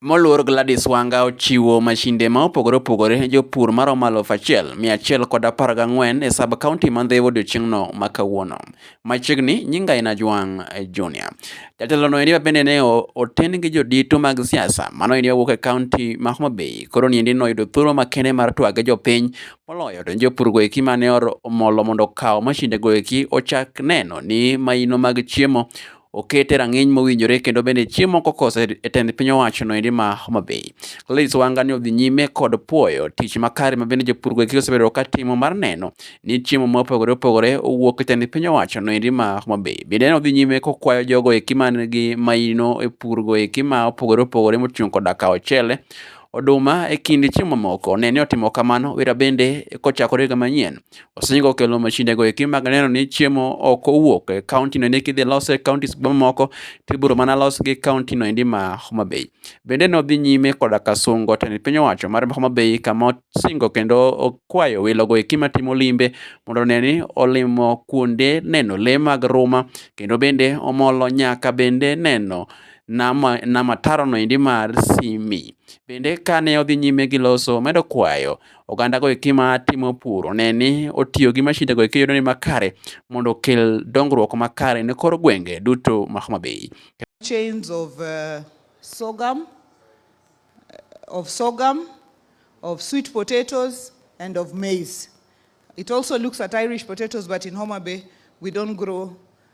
Moluor Gladys Wanga ochiwo mashinde ma opogore opogore ne jopur maromo aluf achiel, mia achiel kod apar gang'wen e sub kaunti ma Ndhiwa odiechieng'no ma kawuono. Machiegni, nyinga en Ajwang' Junior. Jatelono endi bende ne oten gi jodito mag siasa, mano endi owuok e kaunti ma Homa Bay. Koro ni endi noyudo thuolo makende mar twage jopiny, moloyo to jopur goeki mane omolo mondo okaw mashinde goeki ochak neno ni maino mag chiemo okete rang'iny mowinjore kendo bende chiemo kokose e tend piny owacho noendi ma Homa Bay. Gladys Wanga ni odhi nyime kod puoyo tich makare ma bende jopur gweki osebedo ka timo mar neno ni chiemo ma opogore opogore owuok e tend piny owacho noendi ma Homa Bay. Bende ne odhi nyime kokwayo jogo eki man gi maino e pur go eki ma opogore opogore moting'o koda ka ochele oduma e kind chiemo mamoko ne ni otimo kamano wira bende kochakore higa manyien Wasengo kelo mashinde go eki mag neno ni chiemo ok owuok e county no eki dhi lose counties mamoko tiburo mana los gi county no endi ma Homa Bay. Bende ne odhi nyime koda ka sungo tend piny owacho mar Homa Bay kama osingo kendo okwayo welo go eki matimo limbe mondo ne ni olimo kuonde neno le mag ruma kendo bende omolo nyaka bende neno nama nama taro no endi mar Simi. Bende kane odhi nyime gi loso omedo kwayo oganda go eki ma timo pur one ni otiyo gi mashinde go eki yudo ni makare mondo okel dongruok makare ne kor gwenge duto ma Homa Bay. chains of uh, sorghum, uh, of sorghum, of sweet potatoes, and of maize. It also looks at Irish potatoes, but in Homa Bay, we don't grow